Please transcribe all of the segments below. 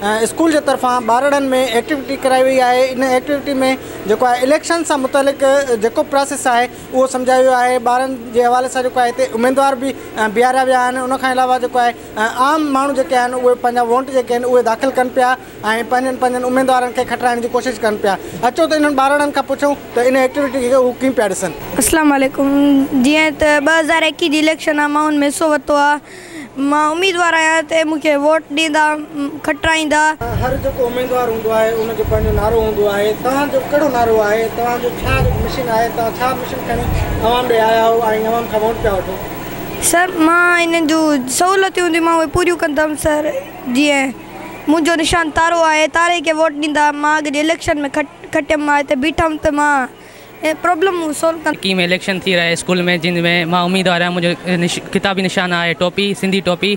School جي طرفان ٻارڙن ۾ ايڪٽيوٽي ڪرائي وئي آهي ان ايڪٽيوٽي ۾ جيڪو آهي اليڪشن سان متعلق جيڪو پراسيس آهي اهو سمجهايو ويو آهي ٻارن جي حوالي سان جيڪو آهي اميدوار به بيهاريا ويا آهن ان کان علاوه جيڪو آهي عام ماڻهو جيڪي آهن اهي پنهنجا ووٽ جيڪي آهن اهي داخل ڪن پيا ۽ پنهنجن پنهنجن اميدوارن کي کٽرائڻ جي ڪوشش ڪن پيا اچو ته انهن ٻارڙن کان پڇون ته ان ايڪٽيوٽي کي هو ڪيئن پيا ڏسن. اسلام عليڪم جيئن ته ٻه هزار ايڪيهه جي اليڪشن آهي ماڻهن ۾ حصو ورتو آهي مان اميدوار آهيان ته مون کي ووٽ ڏيندا کٽرائيندا. هر جيڪو اميدوار هوندو آهي ان جو پنهنجو نعرو هوندو آهي توهان جو ڪهڙو نعرو آهي توهان جو ڇا مشن آهي توهان ڇا مشن کڻي عوام ڏي آيا آهو ۽ عوام کان ووٽ پيا وٺو. سر مان هنن جون سهولتيون هونديون مان اهي پوريون ڪندم سر جيئن منهنجو نشان تارو آهي تاري کي ووٽ ڏيندا مان اڳ جي اليڪشن ۾ کٽيم مان هتي بيٺم ته مان. ۽ پرابلم مون سالو ڪندو. اڪيم اليڪشن ٿي رهي اسڪول ۾ جنھن ۾ مان اميدوار آهيان منهنجو خطابي نشان آهي ٽوپي سنڌي ٽوپي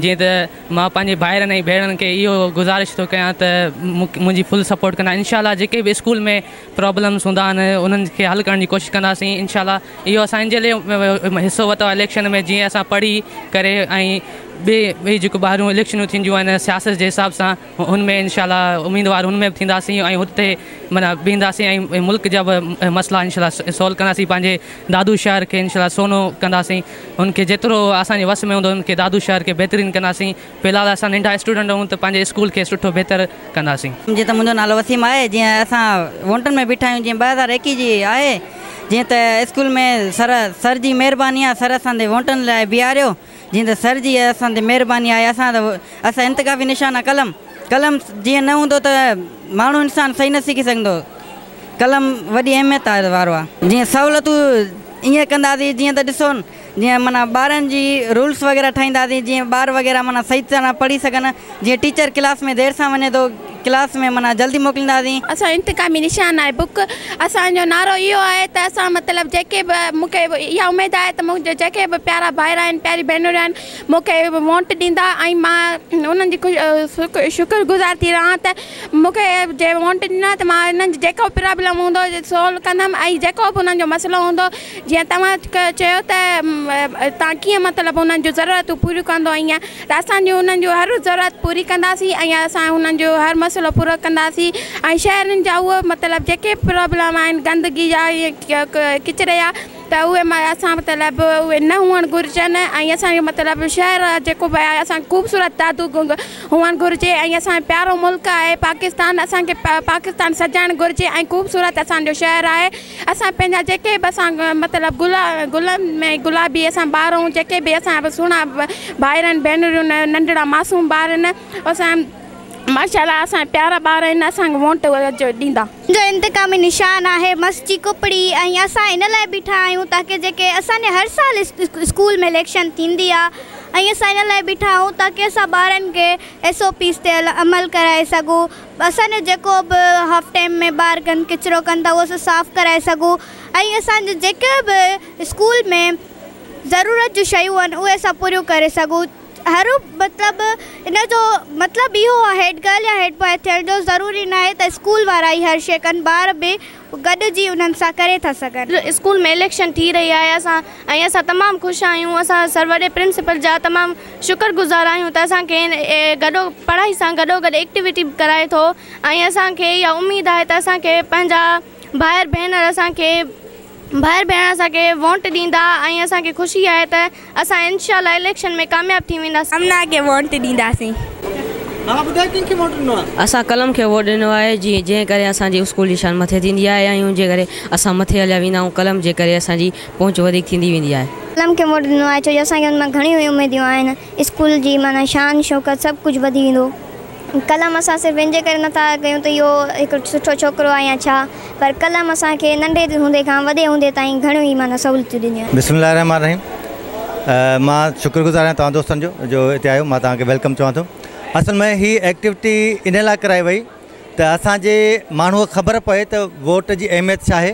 جيئن ته مان پنهنجي ڀائرن ۽ ڀيڻن کي اهو گذارش ٿو ڪيان ته منهنجي فل سپورٽ ڪندا انشاء الله جيڪي به اسڪول ۾ پرابلمس هوندا آهن انهن کي حل ڪرڻ جي ڪوشش ڪنداسين انشاء الله اهو اسان جي لئي حصو وتو آهي اليڪشن ۾ جيئن اسان پڙهي ڪري ۽ ٻي ٻي جيڪو ٻاهرون اليڪشنون ٿينديون آهن سياست جي حساب سان ان ۾ انشاء الله اميدوار ان ۾ به ٿينداسين ۽ اتي معنيٰ بيهنداسين ۽ ملڪ جا به مسئلا انشاء الله سولو ڪنداسين پنهنجي دادو شهر کي انشاء الله سونو ڪنداسين ان کي جيترو اسان جي وس ۾ هوندو ان کي دادو شهر کي بهترين ڪنداسين في الحال اسان ننڍا اسٽوڊنٽ آهيون ته پنهنجي اسڪول کي سٺو بهتر ڪنداسين. جيئن ته منهنجو نالو وسيم آهي جيئن اسان وونٽن ۾ بيٺا آهيون جيئن ٻه هزار ايڪيهه جي آهي جيئن ته اسڪول ۾ سر سر جي مهرباني آهي سر اسان تي وونٽن لاء بيهاريو جيئن ته سر جي اسان تي مهرباني آهي اسان ته اسان انتخابي نشان آ قلم قلم جيئن نه هوندو ته ماڻهو انسان صحيح نه سکي سگهندو قلم وڏي اهميت وارو آ جيئن سهولتون ائين ڪنداسين جيئن ته ڏسو جيئن معنيٰ ٻارن جي رولس وغيره ٺاهينداسين جيئن ٻار وغيره معنيٰ صحيح طرح پڙهي سگهن جيئن ٽيچر ڪلاس ۾ دير سان وڃي ٿو ڪلاس ۾ معنيٰ جلدي موڪلينداسين. اسان انتقامي نشان آهي بڪ اسان جو نعرو اهو آهي ته اسان مطلب جيڪي به مون کي اها اميد آهي ته منهنجا جيڪي به پيارا ڀائر آهن پياري ڀينريون آهن مون کي وونٽ ڏيندا ۽ مان انهن جي خوش شڪر گذار ٿي رهان ته مون کي جي وونٽ ڏنا ته مان انهن جي جيڪو پرابلم هوندو سولو ڪندم ۽ جيڪو به انهن جو مسئلو هوندو جيئن توهان چيو ته تان ڪيئن مطلب انهن جون ضرورتون پوريون ڪندو ائين ته اسان جون انهن جون هر ضرورت پوري ڪنداسين ۽ اسان انهن جو هر مسئلو پورو ڪنداسين ۽ شهرين جا اهي مطلب جيڪي پرابلم آهن گندگي جا ڪچري جا ته اهي اسان مطلب اهي نه هئڻ گهرجن ۽ اسان جو مطلب شهر جيڪو به آهي اسان خوبصورت دادو هئڻ گهرجي ۽ اسان پيارو ملڪ آهي پاڪستان اسان کي پاڪستان سجائڻ گهرجي ۽ خوبصورت اسان جو شهر آهي اسان پنهنجا جيڪي به اسان مطلب گل گلن ۾ گلابي اسان ٻار آهون جيڪي به اسان به سهڻا ڀائرن ڀينريون ننڍڙا معصوم ٻار آهن اسان ماشاء الله اسان پيارا ٻار آهن اسانکي وونٽ ڏيندا. ان جو انتقامي نشان آهي مس جي ڪپڙي ۽ اسان ان لاء بيٺا آهيون تاڪه جيڪي اسان جي هر سال اسڪول ۾ اليڪشن ٿيندي آهي ۽ اسان ان لاء بيٺا آهيون تاڪه اسان ٻارن کي ايس او پيز تي عمل ڪرائي سگهون اسان جو جيڪو به هاف ٽائيم ۾ ٻار گند ڪچرو ڪن ٿا اهو اسان صاف ڪرائي سگهون ۽ اسان جون جيڪي به اسڪول ۾ ضرورت جون شيون آهن اهي اسان پوريون ڪري سگهون هر مطلب ان جو مطلب اهو آهي هيڊ گرل يا هيڊ بوائي ٿيڻ جو ضروري ناهي ته اسڪول وارا ئي هر شيء ڪن ٻار به گڏجي انهن سان ڪري ٿا سگهن. اسڪول ۾ اليڪشن ٿي رهي آهي اسان ۽ اسان تمام خوش آهيون اسان سر وڏي پرنسپل جا تمام شڪر گذار آهيون ته اسان کي گڏو پڙهائي سان گڏوگڏ ايڪٽيوٽي به ڪرائي ٿو ۽ اسان کي اها اميد آهي ته اسان کي پنهنجا ڀائر ڀينر اسان کي ڀائر ڀينر اسان کي وونٽ ڏيندا ۽ اسان کي خوشي آهي ته اسان انشاء الله اليڪشن ۾ ڪامياب ٿي وينداسين. امنا کي ووٽ ڏينداسين. ها ٻڌاء ڪنهن کي ووٽ ڏنو آ. اسان قلم کي ووٽ ڏنو آهي جي جنهن ڪري اسان جي اسڪول جي شان مٿي ٿيندي آهي ۽ ان جي ڪري اسان مٿي هليا ويندا آهيون قلم جي ڪري اسان جي پهچ وڌيڪ ٿيندي ويندي آهي. قلم کي ووٽ ڏنو آهي ڇو جو اسان کي ان مان گهڻيون اميديون آهن اسڪول جي معنيٰ شان شوڪت سڀ ڪجهه وڌي ويندو. قلم اسان صرف ان جي ڪري نه ٿا ڪيون ته اهو هڪ سٺو ڇوڪرو آهي يا ڇا پر قلم اسان کي ننڍي هوندي کان وڏي هوندي تائين گهڻيون ئي معنيٰ سهولتيون ڏنيون آهن. بسم الله الرحمٰن الرحيم مان شڪر گذار آهيان توهان دوستن جو جو هتي آيو مان توهان کي ويلڪم چوان ٿو اصل ۾ هي ايڪٽيوٽي ان لاء ڪرائي وئي ته اسان جي ماڻهو خبر پئي ته ووٽ جي اهميت ڇا آهي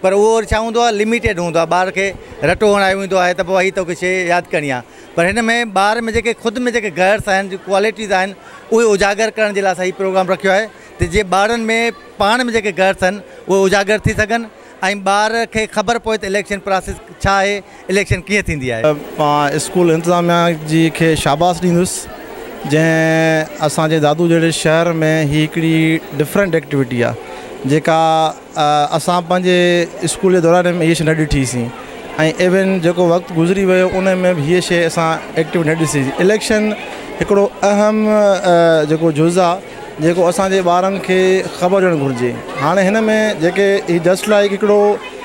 پر اهو وري ڇا هوندو آهي لميٽيڊ هوندو آهي ٻار کي رٽو هڻايو ويندو آهي ته پوء هي توکي شي ياد ڪرڻي آهي پر هن ۾ ٻار ۾ جيڪي خود ۾ جيڪي گئرس آهن جي ڪوالٽيز آهن اهي اجاگر ڪرڻ جي لاء اسان هي پروگرام رکيو آهي ته جيئن ٻارن ۾ پاڻ ۾ جيڪي گئرس آهن اهي اجاگر ٿي سگهن ۽ ٻار کي خبر پوي ته اليڪشن پراسيس ڇا آهي اليڪشن ڪيئن ٿيندي آهي. مان اسڪول انتظاميا جي کي شاباس ڏيندس جنهن اسان جي دادو جهڙي شهر ۾ هي هڪڙي ڊفرنٽ ايڪٽيوٽي آ جيڪا اسان پنهنجي اسڪول جي دوران ۾ هي شي نه ڏٺي سين ۽ ايون جيڪو وقت گذري ويو ان ۾ به هي شي اسان ايڪٽيوٽي نه ڏسي سين اليڪشن هڪڙو اهم جيڪو جز آ جيڪو اسان جي ٻارن کي خبر هجڻ گهرجي هاڻي هن ۾ جيڪي هي جسٽ لائڪ هڪڙو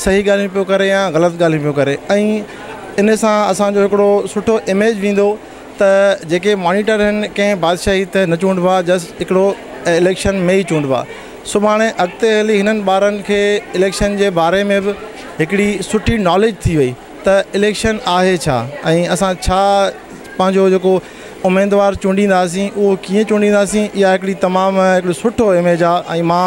صحيح ڳالهيون پيو ڪري يا غلط ڳالهيون پيو ڪري ۽ ان سان اسانجو هڪڙو سٺو اميج ويندو ته جيڪي مانيٽر آهن ڪنهن بادشاهي تي نه چونڊبو آهي جسٽ هڪڙو اليڪشن ۾ ئي چونڊبو آهي سڀاڻي اڳتي هلي هنن ٻارن کي اليڪشن جي باري ۾ به هڪڙي سٺي ناليج ٿي وئي ته اليڪشن آهي ڇا ۽ اسان ڇا پنهنجو جيڪو اميدوار چونڊينداسين اهو ڪيئن چونڊينداسين اها هڪڙي تمام هڪڙو سٺو اميج آهي ۽ مان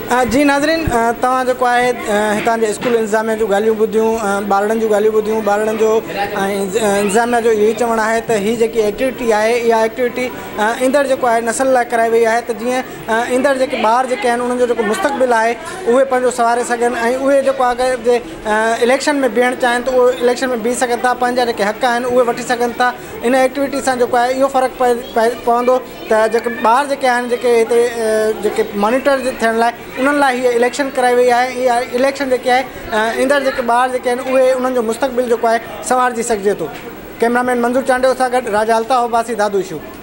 جي ناظرين توهان جيڪو آهي هتان جي اسڪول انتظاميه جون ڳالهيون ٻڌيون ٻارڙن جون ڳالهيون ٻڌيون ٻارڙن جو انتظاميه جو اهو ئي چوڻ آهي ته هي جيڪي ايڪٽيوٽي آهي اها ايڪٽيوٽي ايندڙ جيڪو آهي نسل لاء ڪرائي وئي آهي ته جيئن ايندڙ جيڪي ٻار جيڪي آهن انهن جو جيڪو مستقبل آهي اهي پنهنجو سواري سگهن ۽ اهي جيڪو آگي جي اليڪشن ۾ بيهڻ چاهن ته اهي اليڪشن ۾ بيهي سگهن ٿا پنهنجا جيڪي حق آهن اهي وٺي سگهن ٿا ان ايڪٽيوٽي سان جيڪو آهي اهو فرق پئي پئي پوندو ته جيڪي ٻار جيڪي آهن جيڪي هتي جيڪي مانيٽر ٿيڻ لاء انهن لاء هي اليڪشن ڪرائي وئي آهي اها اليڪشن جيڪي آهي ايندڙ جيڪي ٻار جيڪي آهن اهي انهن جو مستقبل جيڪو آهي سنوارجي سگهجي ٿو ڪئميرا مين منظور چانڊيو سان گڏ راجا الطاف عباسي دادو اشو